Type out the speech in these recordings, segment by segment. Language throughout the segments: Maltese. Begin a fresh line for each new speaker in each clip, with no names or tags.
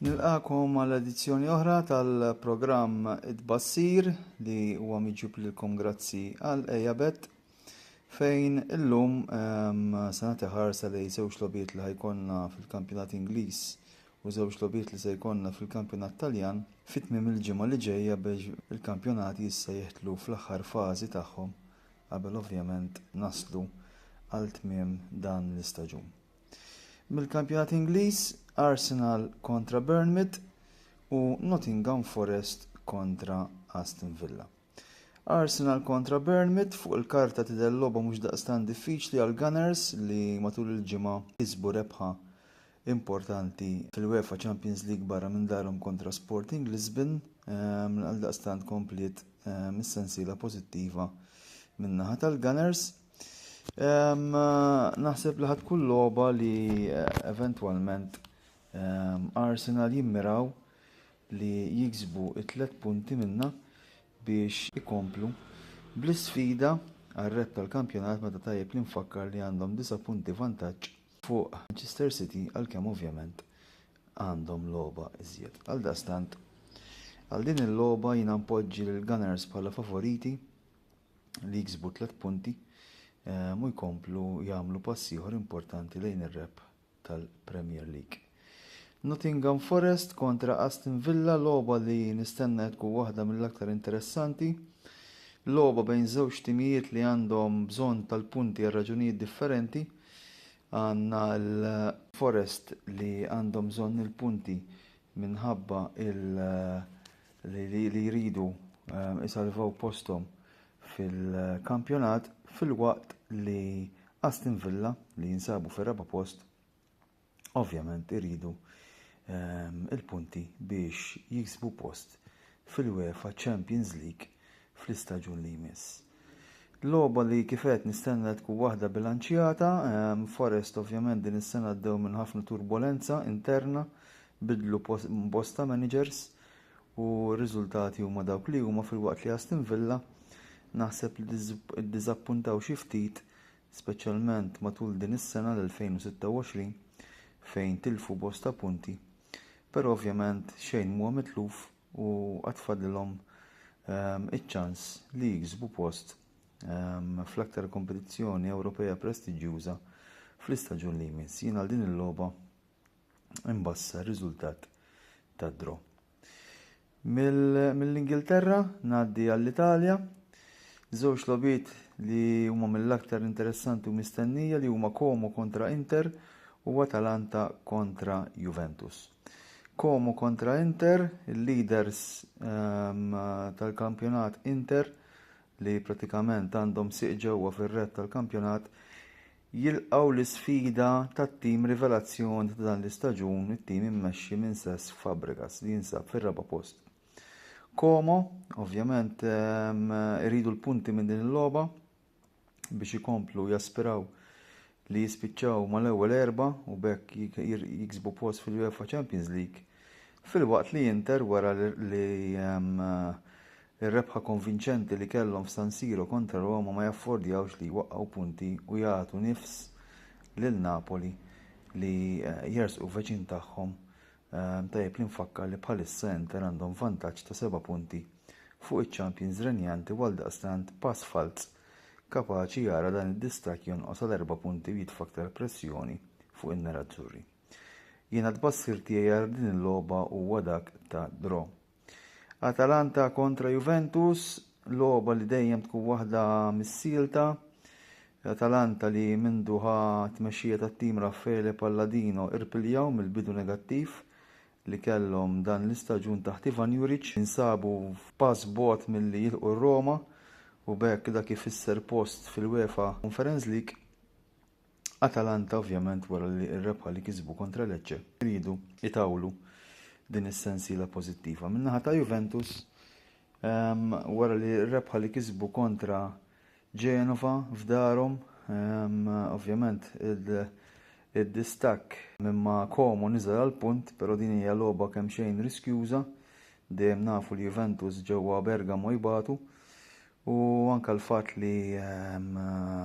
Nilqagħkom għal edizzjoni oħra tal-programm It-Tbassir li huwa miġjub lilkom grazzi għal Ejabet fejn illum ehm, se nagħti ħarsa li żewġ lobiet li ħajkonna fil-kampjonat Ingliż u żewġ lobiet li se jkollna fil-kampjonat Taljan fit tmiem il-ġimgħa li ġejja biex il-kampjonati issa jiħtlu fl-aħħar fażi tagħhom qabel ovvjament naslu għal tmiem dan l-istaġun. Mill-kampjonat Ingliż, Arsenal kontra Bournemouth u Nottingham Forest kontra Aston Villa. Arsenal kontra Bournemouth fuq il-karta tidher logħba mhux daqstant diffiċli għal Gunners li matul il-ġimgħa kisbu rebħa importanti fil-UEFA Champions League barra minn darhom kontra Sporting Lisbon ehm, għal daqstant kompliet ehm, is-sensiela pożittiva min-naħa tal-Gunners. Naħseb li ħad kull logħba li eh, eventwalment Arsenal jimmiraw li jiksbu it-tlet punti minna biex ikomplu bl-sfida għal-red tal-kampjonat meta tajjeb li nfakkar li għandhom 9 punti vantaġġ fuq Manchester City għalkemm ovvjament għandhom logħba iżjed. Għal dastant, għal din il-logħba jiena npoġġi l-Gunners bħala favoriti li jiksbu tliet punti ehm, u jkomplu jagħmlu pass ieħor importanti lejn ir-rep tal-Premier League. Nottingham Forest kontra Aston Villa logħba li nistenna tkun waħda mill-aktar interessanti. Logħba bejn żewġ timijiet li għandhom bżonn tal-punti għal raġunijiet differenti. Għandna l-Forest li għandhom bżonn il-punti minħabba li jridu jsalvaw posthom fil-kampjonat filwaqt li Aston Villa li jinsabu fir-raba' post ovvjament iridu l-punti biex jiksbu post fil-UEFA Champions League fl-istaġun li jmiss. Logħba li kif għedt nistenna li tkun waħda bilanċjata. Forest ovvjament din is-sena għaddew minn ħafna turbolenza interna, bidlu bosta managers u r-riżultati huma dawk li huma filwaqt li Aston Villa naħseb li ddiżappuntaw xi ftit speċjalment matul din is-sena l-2026 fejn tilfu bosta punti. Però ovvjament xejn m'huwa mitluf. u għad fadlilhom iċ-ċans li jiksbu post fl-aktar kompetizzjoni Ewropea prestiġjuża fl-istaġun li jmiss. Jien għal din il-logħba imbassar riżultat ta' draw. Mill-Ingilterra ngħaddi għall-Italja, żewġ logħbiet li huma mill-aktar interessanti u mistennija li huma Como kontra Inter u Atalanta kontra Juventus. Como kontra Inter, il-leaders um, tal-kampjonat Inter li pratikament għandhom siq ġewwa fir-red tal-kampjonat jilqaw l-isfida tat-tim rivelazzjoni ta' dan l-istaġun it-tim immexxi minn Sess Fabregas li jinsab fir-raba' post. Como, ovvjament, iridu l-punti minn din il-logħba biex ikomplu jaspiraw li jispiċċaw mal-ewwel erbgħa u b'hekk jiksbu post fil-UEFA Champions League, filwaqt li Inter wara li ehm, ir-rebħa konvinċenti li kellhom f'San Siro kontra Roma ma jaffordjawx li jwaqqgħu punti u jagħtu nifs lil Napoli li eh, jersqu veċin tagħhom Tajjeb li nfakkar li bħalissa Inter għandhom vantaġġ ta' seba' punti fuq iċ-champions renjanti u għaldaqstant pass falz kapaċi jara dan id-distakk jonqos għal erba' punti u jitfa' aktar pressjoni fuq in-nerazzurri. Jiena t-tbassir tiegħi għal din il-logħba huwa dak ta' draw. Atalanta kontra Juventus, logħba li dejjem tkun waħda missielta. Atalanta li mindu ħa tmexxija tat-tim Raffaele Palladino irpiljaw mill-bidu negattiv li kellhom dan l-istaġun taħt Ivan Juric insabu f'pass bogħod milli jilqu r-Roma u b'hekk dak ifisser post fil-UEFA Conference League. Atalanta ovvjament wara li r-rebħa li kisbu kontra Lecce riedu jtawlu din is-sensiela pożittiva. Min-naħa ta' Juventus ehm, wara li r-rebħa li kisbu kontra Genova f'darhom ehm, ovvjament id-distakk minn ma' Como niżel għal punt, però din hija logħba kemm xejn riskjuża dejjem nafu li Juventus ġewwa Bergamo jbatu U anke l-fatt li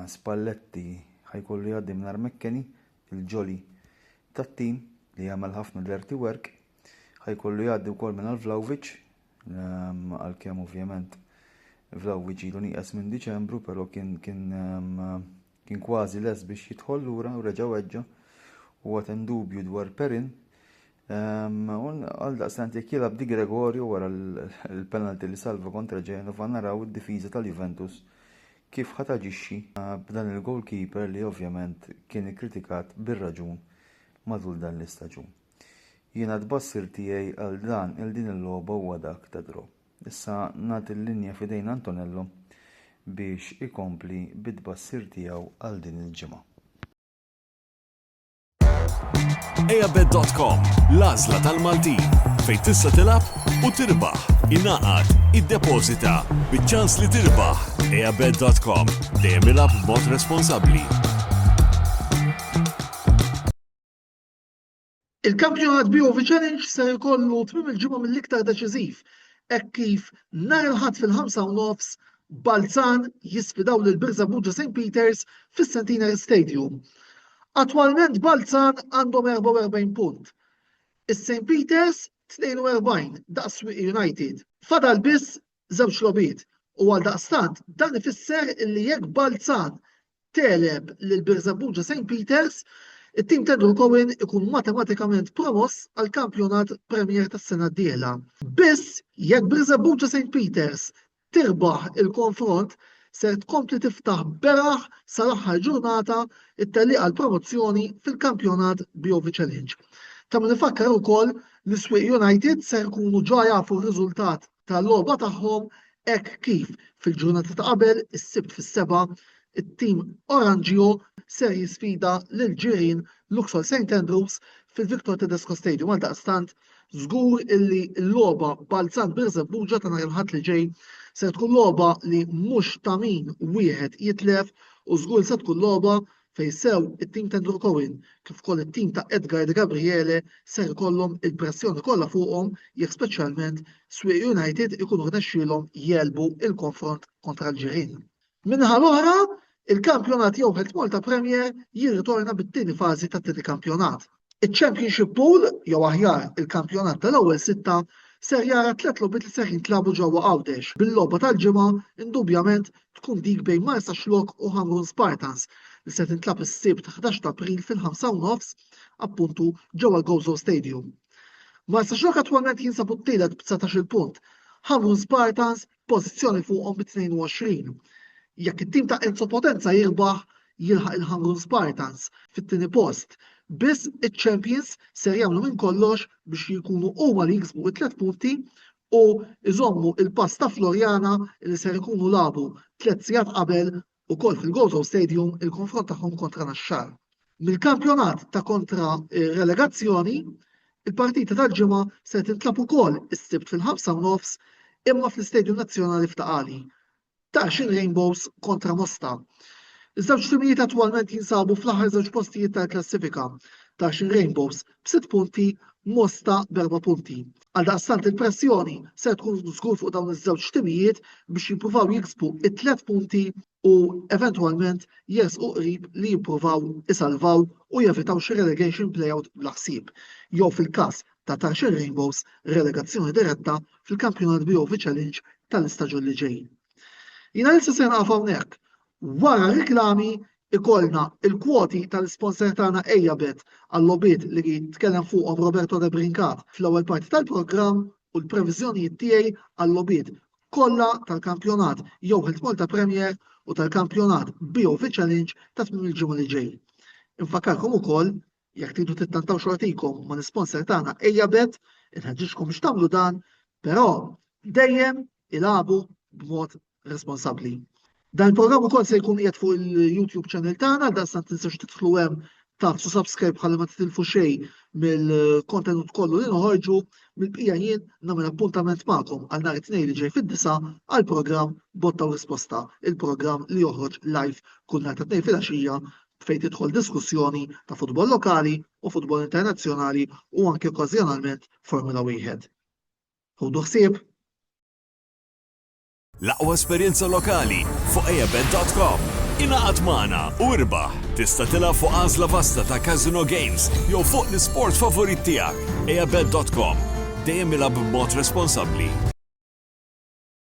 Spalletti ħa jkollu jgħaddi mingħajr McKennie, il-ġoli tat-tim li jagħmel ħafna dirty work, ħa jkollu jgħaddi wkoll mingħajr Vlahovic, għalkemm ovvjament Vlahovic ilu nieqes minn Diċembru, però kien kien Kien kważi lest biex jidħol lura u reġa' weġġa'. Huwa temm dubju dwar Perin. U għaldaqstant jekk jilgħab Di Gregorio wara l-penalty li salva kontra Genova naraw id-difiża tal-Juventus kif ħa taġixxi b'dan il-goalkeeper li ovvjament kien ikkritikat bir-raġun matul dan l-istaġun. Jiena t-tbassir tiegħi għal dan il-din il-logħba huwa dak ta' draw. Issa nagħti l-linja f'idejn Antonello biex ikompli bit-tbassir tiegħu għal din il-ġimgħa. Eabet.com, l-għażla tal-Maltin, fejn tista' tilgħab u tirbaħ, ingħaqad, iddepożita, biċ-ċans li tirbaħ. Eabet.com, dejjem ilgħab b'mod responsabbli. Il-kampjonat BOV Challenge ser ikollu tmiem il-ġimgħa mill-iktar deċiżiv hekk kif nhar il-Ħadd fil-ħamsa u nofs Balzan jisfidaw lil Birża Buġa St Peters fis-Centenary Stadium. Attwalment Balzan għandhom 44 punt. Is-St Peters 42 daqs Swieqi United. Fadal biss żewġ logħbiet. U għaldaqstant dan ifisser li jekk Balzan teleb lil Birżebbuġa St. Peters, it-tim ta' Drew Cohen ikun matematikament promoss għal kampjonat Premier tas-sena d-dieħla. Biss jekk Birżebbuġa St. Peters tirbaħ il-konfront ser tkompli tiftaħ beraħ sal-aħħar ġurnata it-tellieqa għal promozzjoni fil-kampjonat BOV Challenge. Ta' min ifakkar ukoll l-Iswieq United ser ikunu ġa jafu r-riżultat tal-logħba tagħhom hekk kif fil-ġurnata ta' qabel is-Sibt fis-sebgħa it-tim Oranġjo ser jisfida lil ġirien Luxol St Andrews fil-Victor Tedesco Stadium għaldaqstant żgur illi l-logħba Balzan Birżebbuġa ta' nhar il-Ħadd li ġej ser tkun logħba li mhux ta' min wieħed jitlef u żgur se tkun logħba fejn sew it-tim ta' Andrew Cohen kif ukoll it-tim ta' Edgar De Gabriele ser ikollhom il-pressjoni kollha fuqhom jekk speċjalment Swieqi United ikunu rnexxielhom jegħlbu l-konfront kontra l-ġirien. Min-naħa l-oħra, il-kampjonat jew Health Malta Premier jirritorna bit-tieni fażi tat-tieni kampjonat. Iċ-Championship Pool, jew aħjar, il-kampjonat tal-ewwel sitta, ser jara tliet logħbiet li ser jintlagħbu ġewwa Għawdex, bil-logħba tal-ġimgħa indubjament tkun dik bejn Marsaxlokk u Ħamrun Spartans li se tintlagħab is-Sibt 11 ta' April fil-ħamsa u nofs, appuntu ġewwa l-Gozo Stadium. Marsaxlokk attwalment jinsabu t-tielet b'19-il punt, Ħamrun Spartans pożizzjoni fuqhom bi 22. Jekk it-tim ta' Enzo Potenza jirbaħ jilħaq il-Hangul Spartans fit-tieni post. Biss iċ-champions ser jagħmlu minn kollox biex jkunu huma li jiksbu it-tliet punti u jżommu il-pass ta' Floriana li ser ikunu labu tliet sigħat qabel ukoll fil-Gozo Stadium il-konfront tagħhom kontra Naxxar. Mill-kampjonat ta' kontra relegazzjoni, il-partita tal-ġimgħa se tintlagħab ukoll is-Sibt fil-ħamsa u nofs imma fl-Istadium Nazzjonali f'Ta' Qali. Taxin Rainbows kontra Mosta. Iż-żewġ timijiet attwalment jinsabu fl-aħħar żewġ postijiet tal-klassifika. Taxin Rainbows b'sitt punti, Mosta b'erba' punti. Għaldaqstant il-pressjoni ser tkun żgur fuq dawn iż-żewġ timijiet biex jippruvaw jiksbu t-tliet punti u eventwalment jersqu qrib li jippruvaw isalvaw u jevitaw xi relegation play-out bla ħsieb, jew fil-każ ta' Tarxien Rainbows, relegazzjoni diretta fil-Kampjonat BOV Challenge tal-istaġun li ġej. Jiena issa ser nieqaf hawnhekk Wara r-riklami ikollna l-kwoti tal-isponsor tagħna Ejja Bet għal-logħbiet li tkellem fuqhom Roberto Debrincat fl-ewwel parti tal-programm u l-previżjonijiet tiegħi għal-logħbiet kollha tal-kampjonat jew Health Malta Premier u tal-kampjonat BOVChallenge ta' tmiem il-ġimgħa li ġej. Infakkarkom ukoll Jekk tridu tittantaw xortikom ma' l-isponsor tagħna ejja bet, inħeġġiġkom biex tagħmlu dan, però dejjem ilagħbu b'mod responsabbli. Dan il-programm ukoll se jkun qiegħed fuq il-YouTube channel tagħna, dan sa tinsewx tidħlu hemm tagħtu subscribe ħalli ma titilfu xejn mill-kontenut kollu li noħorġu mill-bqija jien nagħmel appuntament magħkom għal nhar it-tnejn li ġej fid-disa għal programm Botta u Risposta, il-programm li joħroġ live kull nhar ta' tnejn fil-għaxija fejn tidħol diskussjoni ta' futbol lokali u futbol internazzjonali u anke okkażjonalment Formula Wieħed. Ħudu ħsieb! L-aqwa esperjenza lokali fuq eabet.com. Ingħaqad magħna u irbaħ! Tista' tilgħab fuq għażla vasta ta' casino games jew fuq l-isport favorit tiegħek. eabet.com. Dejjem ilgħab b'mod responsabbli.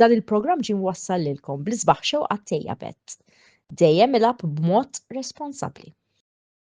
Dan il-programm ġie mwassal lilkom bl-isbaħ xewqat tiegħek. Dejjem ilgħab b'mod responsabbli.